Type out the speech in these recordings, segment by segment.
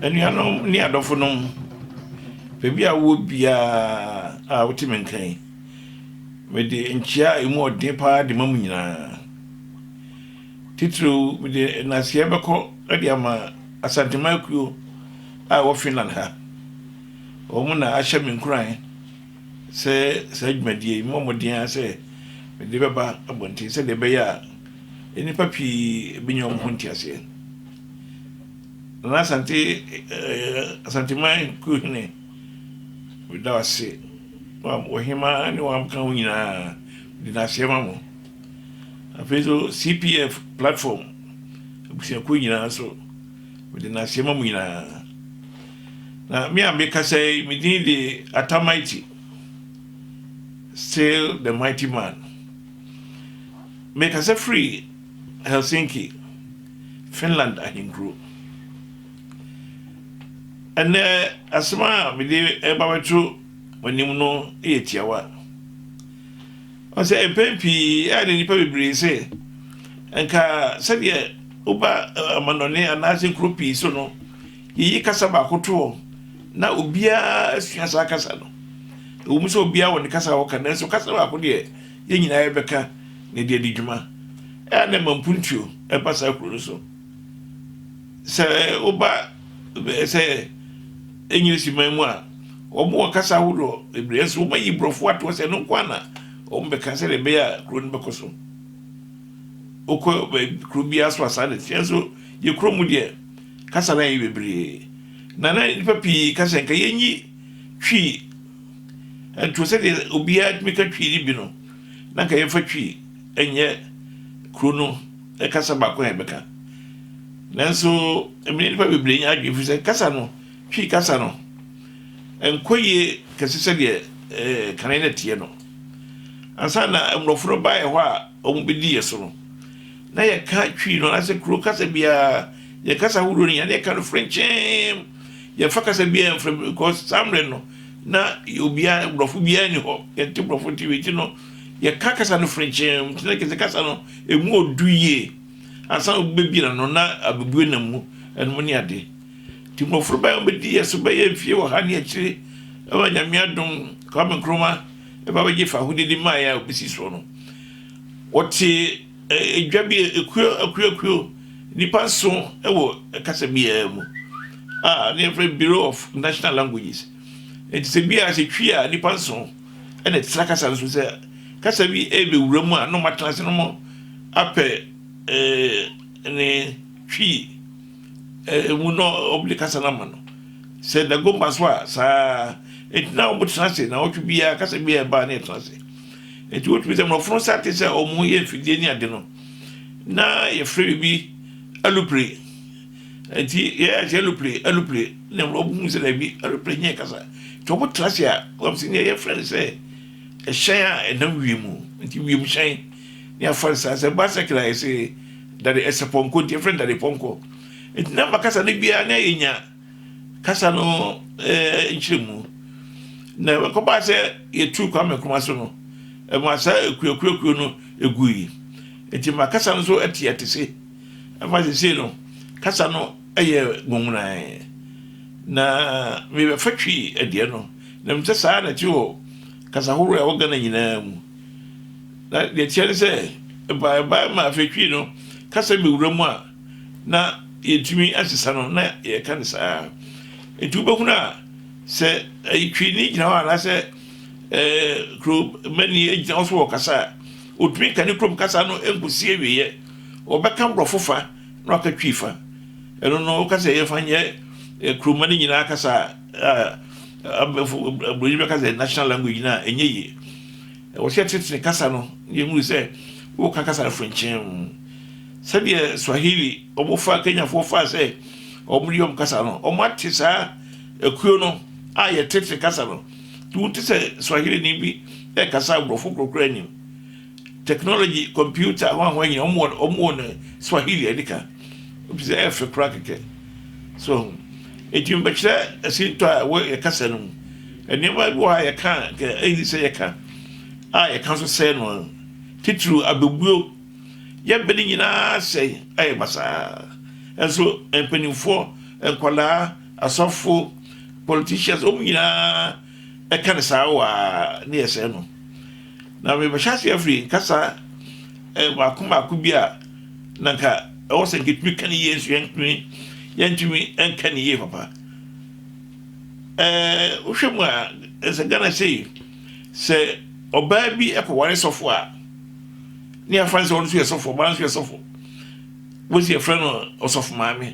anuanom ne adɔfonom baabi a wowɔ biara a wote me nka yi mede nkyia a ɛmu ɔden paa de ma mu nyinaa titiriw mede naseɛ bɛkɔ de ama asantema akuo a ɛwɔ finland ha Wɔn na ahyɛ me nkuran sɛ saa dwumadie yi, memmɔ mmɔden ara sɛ mede bɛba abɔnten sɛdeɛ ɛbɛyɛ a nnipa pii bɛnya wɔn ho nteaseɛ. Nana Asante, eh, Asanteman Kuhene, meda wo ase. Wɔhema ne wɔn abɛka ho nyinaa, mede no aseɛ ma mo. Afei nso CPF platform abusuakuo nyinaa nso, mede no aseɛ ma mo nyinaa. Na me a mekasa yi, me din de Atta Mighty, still the mighty man. Mekasa firi Helsinki, Finland ahenkuro. Ɛnnɛ, asɛm a mede ɛba bɛto w'anim no yɛ tiawa. Ɔsɛ mpɛn pii a na nnipa bebree sɛ, nka sɛdeɛ woba amanɔne anaasɛ nkuro pii so no, Yeyi kasa baako to hɔ na obiara asua saa kasa no. Ɛwom sɛ obiara wɔ ne kasa a ɔka, nanso kasa baako deɛ, yɛn nyinaa yɛbɛka na yɛde adi dwuma. Ɛyɛ a na ɛma mpuntuo ba saa kuro no so. Sɛ woba bɛyɛ sɛ Enyirisi man mu a, wɔwɔ kasa ahodoɔ bebree, nanso wɔayi Borɔfo ato hɔ sɛ ɛno nko ara na wɔbɛka sɛdeɛ ɛbɛyɛ a kuro no bɛkɔ so. Wokɔ baabi kuro biara so a saa na ɛteɛ, nanso yɛn kuro mu deɛ, kasa no ayɛ bebree, na na nnipa pii ka sɛ anka yenyi Twi nto sɛdeɛ obiara tumi ka Twi no bi no, na anka yɛmfa Twi nyɛ kuro no kasa baako a yɛbɛka. Nanso, ɛmene nnipa bebree nya adwene firi sɛ kasa no, Twi kasa no, ɛnkɔ yie kɛse sɛdeɛ eh, kane na ɛteɛ no. Ansa na Mmorɔfo no baeɛ hɔ a, wɔbɛdi yɛn so no, na yɛka Twi no anaasɛ kuro kasa biara, yɛn kasa ahodoɔ no nyinaa, na yɛka no frenkyeem. Yɛmfa kasa biara mfrɛ mu because saa mmerɛ no, na obiara, borɔfo biara ni hɔ. Yɛnte borɔfo nti wei nti no, yɛka kasa no frenkyeem. Nti na kɛse kasa no, ɛmu ɔdu yie. Ansa na obi bɛbie n'ano, na abɛbue nam mu ɛnom ne ade. Nti mmɔfra bɛn a wɔbɛdi yɛn so bɛyɛ mfie ɔha ne akyire, ɛwɔ Nyame adom, Kwame Nkrumah. ba bɛgye fahodie de maeɛ a ɔbɛsi soɔ no. Wɔte dwa bi akuo akuo akuo nnipa nso wɔ kasa biara mu a ne yɛfrɛ Bureau of National Languages. Nti sɛ bi a sɛ twi a nnipa nso ɛna ɛtena kasa nso sɛ kasa bi ɛbɛwura mu a na ɔmatena ase no mo apɛ ne twi Emu na wɔde kasa no ama no. Sɛ Dagomba so a, saa ara. Enti na wɔtena ase. Nnawɔtwe biara, kasa biara a ɛba a, na yɛtena ase. Enti wotumi sɛ mmorɔfo no sɛ te sɛ wɔyɛ mfidie ne ade no, na yɛfrɛ biribi alupre. Enti yɛyɛ ase alupre, alupre, na mmorɔfo hu sɛ daabi, alupre nyɛ kasa. Nti wɔtena ase a, wɔn sɛ nea yɛfrɛ no sɛ ɛhyɛn a ɛnam wiem. Nti wiemhyɛn. ne afansa, sɛ bicycle a yɛse dade ɛsɛ pɔnkɔ nti yɛfrɛ no dade pɔnkɔ nti na ma kasa no biara na yɛnya kasa no eh, nkyerɛmu na ɛkɔbaa sɛ yɛtuu Kwame Nkrumah so no ɛma saa akuakuakuo no ɛgui nti ma kasa no so ɛte ɛte se ɛma sesei no kasa no ɛyɛ ngongonae na mebɛfa twi adeɛ no na mesɛ saa na ɛte wɔ kasa horoɔ a ɛwɔ Ghana nyinaa mu Na nea ɛteɛ ne sɛ, ɛbaa ɛbaa ma afei twi no kasa bɛwura mu a na yɛntumi ansesa no na yɛka no saa ara. Nti wobɛhunu a sɛ ɛyi twini gyina hɔ anaasɛ ɛɛ kuromani gyina hɔ so wɔ kasa a, ɔtumi nka ne kurom kasa no nkɔsi awieɛ. Ɔbɛka borɔfo fa na waka twi fa. Ɛno no woka sɛ yɛmfa nyɛ eh, kuroma no nyinaa kasa a abɛfo aburoni bɛka sɛ national language no a ɛnyɛ yie. Wɔhwɛ Tete kasa no na yɛhunu sɛ wɔka kasa no frenkyemm, sɛdeɛ Swahili wɔfaa Kenyafoɔ faa sɛ wɔde wɔn kasa no. Wɔate saa akuo no a yɛ Tete kasa no nti wote sɛ Swahilini bi rekasa aborɔfo korakora anim. Technology, computer, hwanhwan nyina wɔwɔ wɔn Swahili a ɛdi ka, ɛfiri sɛ ɛyɛ fɛ koraa kɛkɛ. So wahu? Enti mebɛkyerɛ asintɔ a ɛwɔ yɛn kasa no mu. Nneɛma bi wɔ hɔ a yɛka a anka enni sɛ yɛka, a yɛka nso sɛe no ara, titiriw abebuo. Yɛbɛ no nyinaa sɛe, ayɛ basaa. Nso mpanimfoɔ, nkwadaa, asɔfo, politicians, wɔn nyinaa, ɛka no saa wa ne yɛ sɛɛ no na mebɛhyɛ ase afiri nkasa mako mako bi a na nka ɛwɔ sɛ nketumi ka ne yie nso yɛntumi yɛntumi nka ne yie papa ɛɛ wohwɛ mu a ɛsɛ Ghana sei sɛ ɔbaa bi ɛkɔware sɔfo a ne afa ne sɛ ɔno nso yɛ sɔfo ɔbaa nso yɛ sɔfo wosi ɛfrɛ no ɔsɔfo maame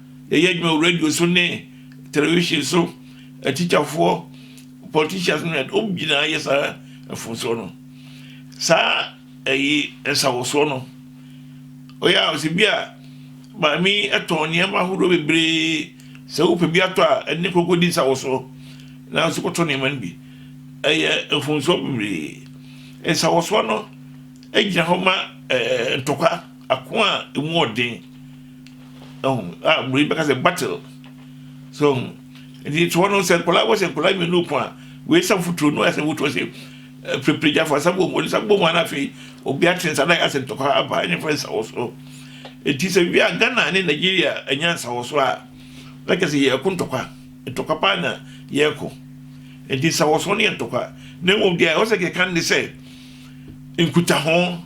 yɛyɛ adwuma wɔ radio so ne television so, atikyafoɔ, politicians no yɛ wɔn nyinaa yɛ saa mfomsoɔ no. Saa ɛyi nsawɔsoɔ no, ɔyɛ a ɔsɛ bi a maame ɛtɔn nneɛma ahodoɔ bebree sɛ wopɛ bi atɔ a ɛne koko di nsawɔsoɔ na nso kɔtɔ nneɛma no bi. Ɛyɛ mfomsoɔ bebree. Nsawɔsoɔ no gyina hɔ ma ɛɛ ntɔkwa, ako a emu ɔden. Ɔho a mmorɔyi bɛka sɛ battle. So ɔho nti toɔ no sɛ nkwadaa wɔ sɛ nkwadaa mmienu pɔn a wei sa futuro no ɛsɛ wotoɔ sɛ pirepirigya fa sa bom wɔde sa bom a na afei obi ate nsa na asɛ ntɔkwa aba ɛne fɛ nsa wɔ so nti sɛ wi a Ghana ne Nigeria ɛnya nsa wɔ so a na kyɛ sɛ yɛko ntɔkwa ntɔkwa paa na yɛko nti nsa wɔ so ne yɛ ntɔkwa na mmom deɛ ɛwɔ sɛ kɛka ne sɛ nkutaho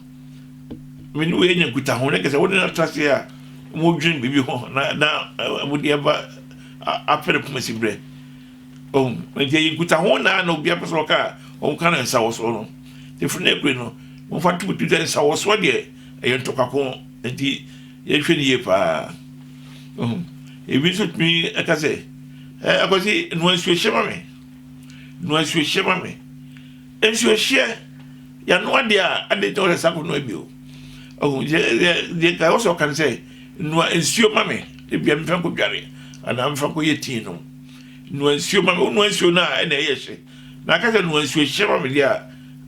Me ne oyi anya nkutaho, na kɛsɛ wode no atra ase a wɔdwene biribi ho na na wɔde aba apere poma si berɛ. Ɔhu, nti ɛyɛ nkutaho na na obi apɛ sɛ ɔka a wɔka no nsawɔsoɔ no. Ɛfiri no akure no, wɔmfa to bɛtu sɛ nsawɔsoɔ deɛ ɛyɛ ntɔkwako, nti yɛhwɛ no yie paa. Ɔhu, ebi nso tumi ɛka sɛ, ɛkɔsi noa nsuo hyɛ ma me, noa nsuo hyɛ ma me. Nsuohyeɛ, yanoa deɛ a, adɛn nti na wɔhyɛ saa kɔnoa bio? Ɔhu deɛ nka ɛwɔ sɛ ɔka no sɛ, noa nsuo ma me, ebia mfa nkɔdware anaa mfa nkɔyɛ tii nom. Noa nsuo ma me, wonoa nsuo no a ɛna ɛyɛ hye. Na aka sɛ noa nsuohyeɛ ma me deɛ a,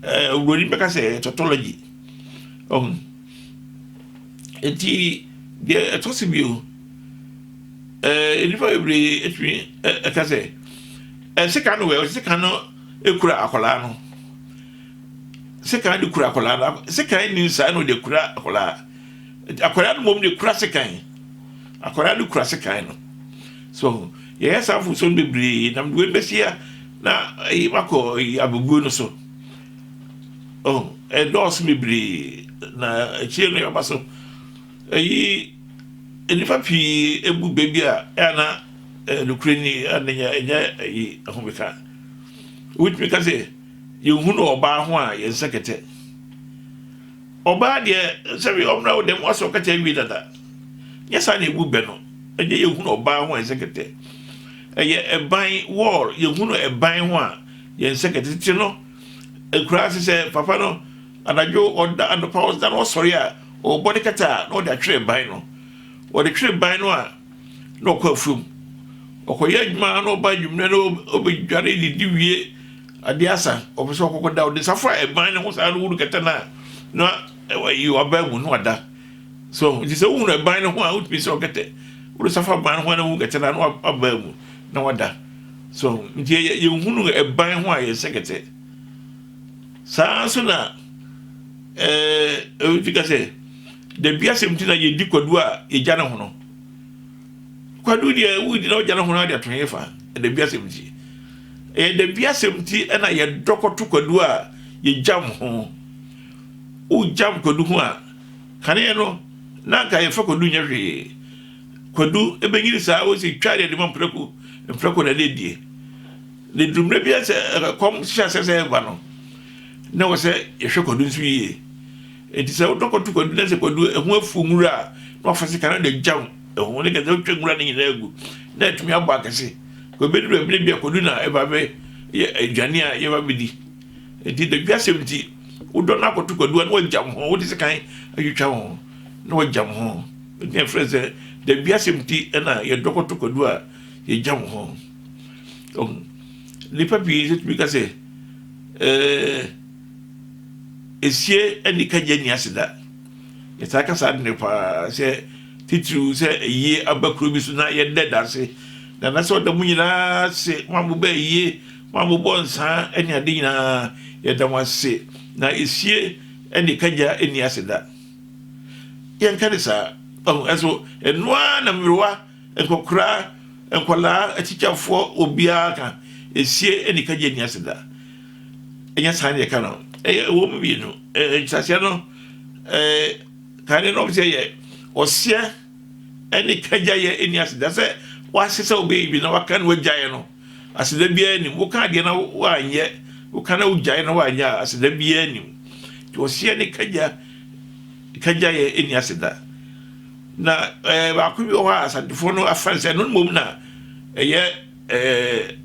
ɛɛ buroni bɛka sɛ ɛyɛ tautology. Ɔhu. Enti deɛ ɛtɔ so bio, ɛɛ nnipa bebree atumi ɛka sɛ, ɛsɛ ka no wɛ, ɛsɛ ka no. kura akwadaa no sekan de kura akwadaa no sekan nni nsaa na ɔde kura akwadaa akwadaa no mmom de kura sekan akwadaa no kura sekan no so yɛyɛ saa mfomso no bebree nam de wei bɛsi a na ɛyi makɔ ɛyi abubuo no so ɔho ɛdɔɔso bebree na akyire no yɛba so ɛyi nnipa pii ebu baabi a ɛna nokorɛ ni ɛna ɛnyɛ ɛyi ahomeka. wotumi ka sɛ yɛhunu ɔbaa ho a yɛn nsa kɛtɛ ɔbaa deɛ sɛbi ɔmena wo dɛm wasɛ ɔkɛtɛ awie dada nyɛ saa na ɛbu bɛ no ɛnyɛ yɛhunu ɔbaa ho a yɛn nsa kɛtɛ ɛyɛ ɛban wɔɔl yɛhunu ɛban ho a yɛn nsa kɛtɛ tete no ɛkura ase sɛ papa no anadwo ɔda anɔpa ɔda na ɔsɔre a ɔbɔ ne kɛtɛ a na ɔde atwerɛ ban no ɔde twerɛ ban no a na ɔkɔ afuom ɔkɔyɛ adwuma na ɔba adwuma na ɔbɛdware didi wie adeɛ asa ɔpɛ sɛ ɔkɔkɔ da ɔde safo a ɛban ne ho saa no wuru kɛtɛ no a na ɛyi ɔbaa mu na wada so nti sɛ wohunu ɛban ne ho a wotumi sɛ ɔkɛtɛ wode safo aban ne ho a na wohunu kɛtɛ no a na wabaa mu na wada so nti yɛhunu ɛban ho a yɛsɛ kɛtɛ saa nso na ɛɛ ɛwɔ ti ka sɛ Da biasɛm nti na yɛdi kwadu a yɛgya ne hono. Kwadu deɛ wodi na wogya ne hono ade ato hefa? Da biasɛm nti. Ɛyɛ da biasɛm nti na yɛdɔ kɔto kwadu a yɛgyam ho. Wogyam kwadu ho a, kaneɛ no na anka yɛmfa kwadu nyɛ hwee. Kwadu bɛnyini saa wo sɛ twa deɛ de ma mprako, mprako na ɛde die. Na ɛduru mmerɛ bi sɛ ɛkɔm hyɛ aseɛ sɛ ɛreba no, na wɔ sɛ yɛhwɛ kwadu nso yie. Enti sɛ wodɔkɔto kwadu na sɛ kwadu ɛho afuw nwura a, na wafa sekan no de agyam ɛho. Ne ka sɛ wotwa nwura no nyinaa gu na atumi abɔ akɛse. Kɔ ebeduru baabi na bi a kwadu na ɛba bɛ yɛ aduane a yɛba bedi. Enti dadwi asɛm nti, wodɔ no akɔto kwadu a na wagyam ho, wode sekan atwitwa ho na wagyam ho. Enti na yɛfrɛ sɛ dadwi asɛm nti na yɛdɔ kɔto kwadu a yɛgyam ho. Ɔho. Nnipa pii nso tumi ka sɛ, ɛɛ. esie ne kagye nni ase da. Yɛtaa ka saa ade no paa sɛ titiriw sɛ ayie aba kuro bi so na yɛda danse na na sɛ ɔda mu nyinaa ase mo a mobɛ ayie mo a mobɔ nsaa ne ade nyinaa yɛda mo ase na esie ne kagya nni ase da yɛnka ne saa ɛso ɛnoa na mmerewa Nkɔkoraa, nkwadaa, atikyafoɔ, obiara ka, esie ɛni kagye ɛni ase da. Ɛnyɛ saa na yɛka no. Ɛyɛ ɛwɔ mu mmienu. Ɛɛ nkyerɛaseɛ no, ɛɛ kan no na wɔn sɛ yɛ ɔseɛ ɛne kagya yɛ ɛni ase da sɛ wɔahyɛ sɛ wɔbɛyɛ bi na wɔaka na wɔagyaeɛ no aseda biara nim. Woka adeɛ na wɔanyɛ, woka na wogyae na wɔanyɛ a aseda biara nim. Nti ɔseɛ ne kagya kagya yɛ ɛni ase da. Na ɛɛ baako bi wɔ hɔ a Asantefoɔ no afa no sɛ ɛno mmom na ɛyɛ ɛɛ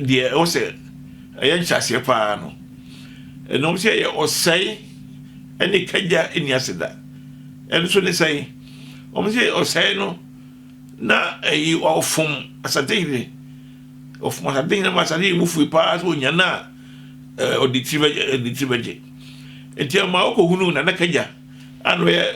deɛ ɛwɔ sɛ ɛyɛ nhyɛaseɛ paa no. Ɛnom sɛ ɛyɛ ɔsɛe ɛne kagya nni ase da. Ɛno nso ne sɛn? Wɔn sɛ ɔsɛe no na ɛyi ɔfom Asantehene. Ɔfom Asantehene ma Asantehene bo fui paa sɛ ɔnya no a ɛɛ ɔde tiri bɛgye ɛde tiri bɛgye. Nti ɛma ɔkɔhunu Nana Kagya a na ɔyɛ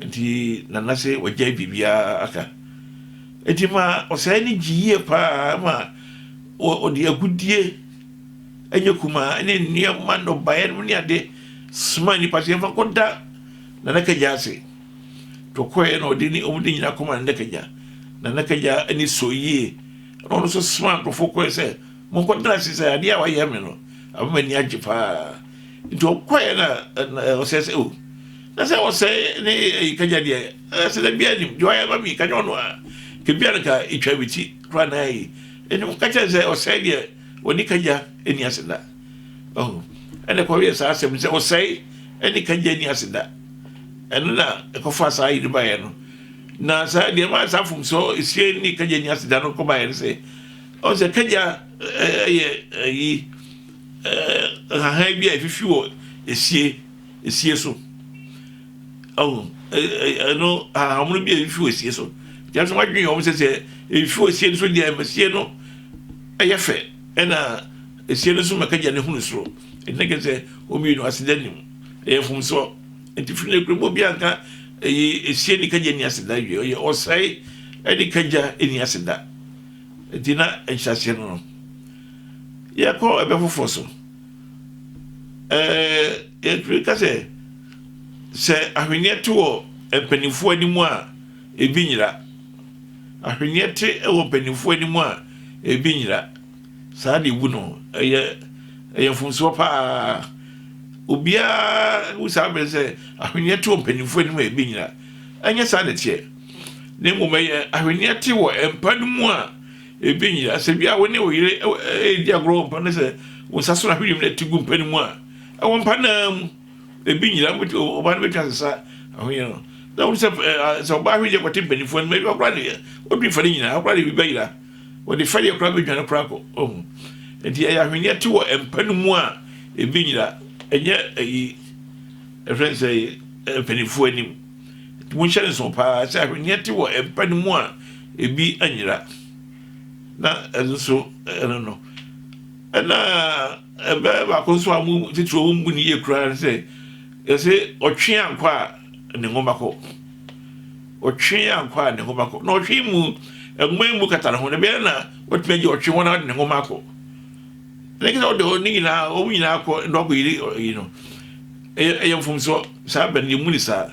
Enti na na se wagyae biribiara aka. Enti ma ɔsɛe no gye yie paa ma ɔde agudeɛ ɛnyɛ kumaa ne nneɛma nnɔbaeɛ nom ne ade soma nnipa sɛ yɛmfa kɔda Nana Kagya ase. Tɔkɔɛ na ɔde ne ɔmo de nyina kɔma Nana Kagya. Nana Kagya ani sɔ yie na ɔno nso soma nkurɔfoɔ kɔɛ sɛ Monkɔtena ase sɛ adeɛ a wayɛ me no ama m'ani agye paa. Nti ɔkɔɛ na ɔsɛ sɛ o na sɛ ɔsɛe ne ɛyi kagya deɛ ɛsɛ dɛ biara nim deɛ wayɛ ma me kagya ɔno a kebia no ka ɛtwa me ti koraa na ɛyi ɛne mo kakyɛ sɛ ɔsɛe deɛ wɔne kagya ɛni ase da ɔho ɛne kɔyɛ saa asɛm sɛ ɔsɛe ɛne kagya ɛni ase da ɛno na ɛkɔfa saa yere baeɛ no na saa deɛ ma saa fomsoɔ ɛsie ne kagya ɛni ase da no kɔbaeɛ no sɛ Ɔn sɛ kagya yɛ ayi nhahan bi a efifi wɔ esie esie so. Ɔn ɛno ahahamono bi a efifi wɔ esie so. Nanso wadwen wɔn sɛ sɛ efifi wɔ esie no so deɛ ɛma esie no yɛ fɛ ɛna esie no so ma kagya no hunu soro. Ɛnti na kyerɛ sɛ wɔn mmienu aseda nni mu. Ɛyɛ mfomsoɔ. Ɛnti firi nnɛ kura mu obiara nka eyi esie ne kagya nni aseda awie. Ɔyɛ ɔsɛe ɛne kagya nni aseda. Enti na nhyɛaseɛ no no yɛkɔ ɛbɛ foforɔ so. Ɛɛ yɛtumi ka sɛ sɛ ahweneɛ te wɔ mpanimfoɔ anim a ebi nyera. Ahweneɛ te wɔ mpanimfoɔ anim a ebi nyera. Saa deɛ ebu no ɛyɛ ɛyɛ mfomsoɔ paa. Obiara hu saa bere sɛ ahweneɛ te wɔ mpanimfoɔ anim a ebi nyera. Ɛnyɛ saa na ɛteɛ. na mmom ɛyɛ ahweneɛ te wɔ mpa no mu a ebi nyera. Sɛ bia wo ne wo yere redi agorɔ wɔ mpa no sɛ wo nsa so na ahweneɛ mu na ɛte gu mpa no mu a, ɛwɔ mpa no ara mu. Ebi nyera, ɔbaa no bɛtumi asesa ahweneɛ no. Na wo sɛ sɛ ɔbaa ahweneɛ kɔte mpanyinfoɔ anim, ebi ɔkora deɛ, ɔdwi fa no nyinaa, ɔkora deɛ ebi bɛyera. Wɔde fɛdeɛ koraa bɛdwane koraa kɔ, ɔhu. Nti ɛyɛ ahweneɛ te wɔ mpa no mu a ebi nyera, ɛnyɛ ɛyi, ɛfrɛ no sɛ mpanyinfoɔ anim. Monhyɛ no nsow paa sɛ ahweneɛ te wɔ mpa no mu a ebi anyera, na ɛno nso ɛno no. Ɛna ɛbɛyɛ baako nso a mu titiriw wɔn bu ne yie koraa ne sɛ yɛsɛ ɔtwe ankɔ a ne nwoma kɔ, ɔtwe ankɔ a ne nwoma kɔ, na ɔtwe mu nwoma mu kata ne ho na ɛbɛyɛ na watumi agye ɔtwe ho na ɔde ne nwoma akɔ. ɛnɛ kɛ sɛ wode hɔ ne nyinaa wɔn nyinaa kɔ na wakɔ yiri yi no ɛyɛ ɛyɛ mfomsoɔ saa bɛn yɛmu ne saa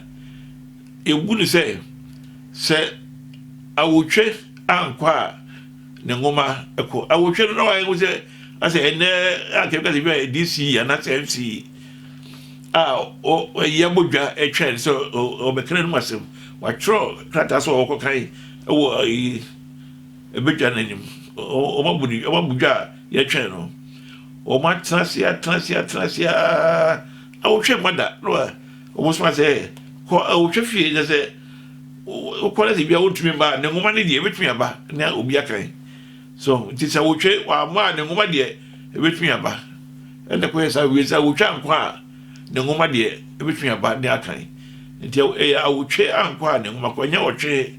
yɛbu ne sɛ sɛ awotwe ankɔ a ne nwoma ɛkɔ awotwe no na wayɛ ho sɛ asɛ ɛnɛ akɛbi kasɛ bi a dc anaasɛ mc a ɛyɛ abɔdwa ɛtwɛn sɛ ɔbɛkra no mu asɛm watwerɛ krataa sɛ ɔwɔkɔ kan ɛwɔ ayi Ɛbɛdwa n'anim. Wɔabu no, wɔabu dwa a yɛtwɛn no. Wɔatena ase, atena ase, atena ase ara. Awotwe mma da. No a, wɔsoma sɛ, kɔ awotwe fie na sɛ wokɔ na sɛ bia wontumi mma a, ne nwoma no deɛ ɛbɛtumi aba na obi akan. So, nti sɛ awotwe wamma a, ne nwoma deɛ ɛbɛtumi aba. Ɛna kɔyɛ saa wie sɛ awotwe ankɔ a, ne nwoma deɛ ɛbɛtumi aba ne akan. Nti ɛyɛ awotwe ankɔ a ne nwoma kɔ, ɛnyɛ ɔtwe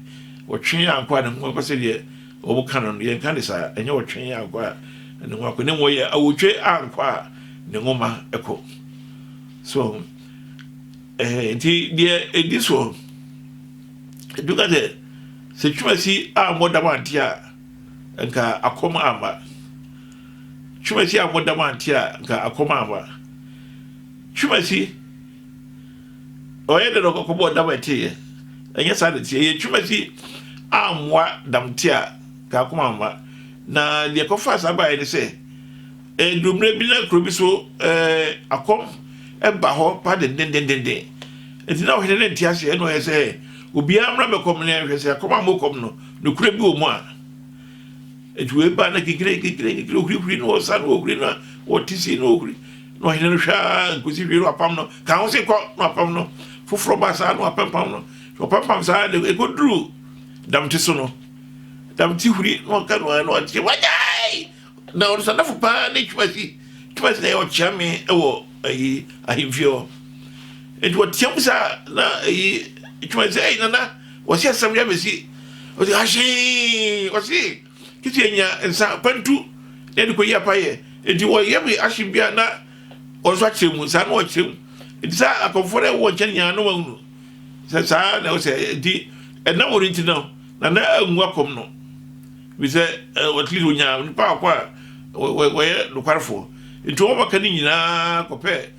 Ɔtwee ankwaa ne nguankuwa sɛdeɛ wɔka no no, yɛnka ne saa, ɛnyɛ ɔtwee ankwaa ne nguankuwa, na mmom ɔyɛ awotwe ankwaa ne nwoma kɔ. So, ɛhɛ nti deɛ ɛdi soɔ, ɛdu ka sɛ, sɛ twumasi ammɔ dam ante a, nka akɔm amma. Twumasi ammɔ dam ante a, nka akɔm amma. Twumasi Ɔyɛ dɛ na ɔkɔkɔbɔɔ dam a ɛteeɛ. Ɛnyɛ saa na ɛteɛ. Ɛyɛ twumasi ammoa damte a kaakoma amma. Na deɛ ɛkɔfaa saa baeɛ ne sɛ, ɛduruu mmerɛ bi na kuro bi so ɛɛ akɔm ɛba hɔ pa dendendendenden. Nti na ɔhene no nte aseɛ, ɛna ɔyɛ sɛ obiara mmra mmɛkɔ mene ɛnhwɛ sɛ akɔm ammɔ kɔm no, nokorɛ bi wɔ mu a. Nti wei baa na kinkiri kinkiri kinkiri ohurihuri no ɔsa no ohuri no a ɔte sei no ohuri. Na ɔhene no hwɛ ara nkosi hwee na wapam no kaa ho se kɔ na wapam no foforɔ ba saa na wapɛmpam no ɔpɛmpam saa de ɛkɔduru damte so no damte huri na ɔka no ara na ɔteɛ wagyae na ɔno sadafo paa ne twumasi twumasi na ɛyɛ ɔkyea me wɔ ayi ahemfie hɔ nti wɔteam saa na ayi twumasi sɛ ɛyi nana wɔsi asɛm yɛ bɛsi wɔsi ahyee wɔsi Kitty anya nsa akwantu na ɛde kɔyi apayɛ. Enti wɔyɛ me ahye bia na wɔn nso akyerɛ mu. Saa na wɔkyerɛ mu. Enti sɛ akɔmfoɔ no ɛwɔ wɔn nkyɛn nyinaa na wɔahunu sɛ saa na ɛwɔ sɛ enti ɛnam wɔn nti no na na angu akɔm no. Bi sɛ at least wɔnya nipa akɔ a wɔyɛ nokwarefoɔ. Enti wɔn bɛka ne nyinaa kɔpɛ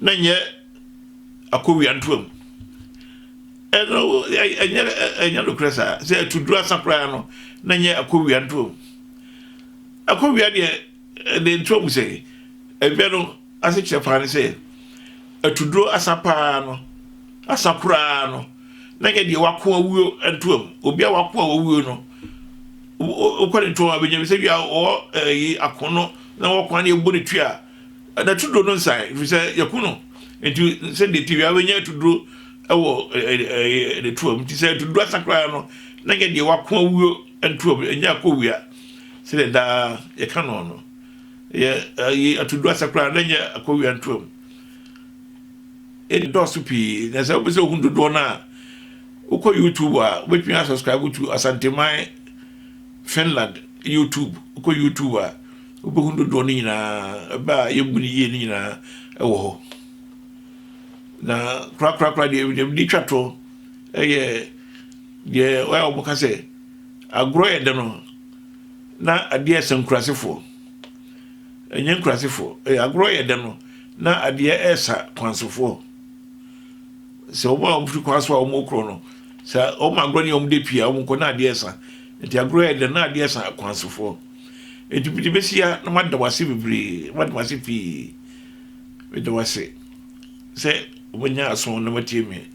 na nyɛ akowiantoam. Ɛno ɛnyɛ ɛnyɛ nokorɛ saa. Sɛ atuduro asa koraa no, na nyɛ akowiantoam. Akowia deɛ ɛde ntoam sɛ ɛdwɛ no asekyerɛ paa ne sɛ atuduro asa paa no asa koraa no na nyɛ deɛ wako awuo ntoam. Obi a wako a wawuo no wokɔ ne ntoam abɛnya bi sɛ bi a ɔwɔ ɛyi ako no na wɔko ne ɛbɔ ne tua N'atuduro no nsae, ɛfiri sɛ yɛku no. Nti sɛdeɛ ti wia bɛnya atuduro wɔ ne tuam nti sɛ atuduro asa koraa no na nyɛ deɛ wako awuo ntuam ɛnyɛ akɔ wia sɛdeɛ daa yɛka no no yɛ ayi atuduro asa koraa na nyɛ akɔ wia ntuam ɛdɔɔso pii na sɛ wopɛ sɛ ohun dodoɔ no a wokɔ youtube a wobɛtumi asubscribe to asanteman finland youtube wokɔ youtube a Wobɛhunu dodoɔ no nyinaa, ɛbɛ a yɛmmu no yie no nyinaa wɔ hɔ. Na korakorakora deɛ deɛ mede twa toɔ yɛ deɛ wɔyɛ a wɔka sɛ agorɔ yɛ dɛ no na adeɛ ɛsɛ nkurasefoɔ ɛnyɛ nkurasefoɔ agorɔ yɛ dɛ no na adeɛ ɛsa kwansofoɔ sɛ wɔn a wɔfiri kwan so a wɔkorɔ no sɛ wɔn agorɔ ne wɔn de pii a wɔn kɔ na adeɛ ɛsa nti agorɔ yɛ dɛ na adeɛ ɛsa kwansofoɔ Enti mede bɛsi ha na mada wo ase bebree, mada wo ase pii. Meda wo ase sɛ wobɛnya aso na watie me.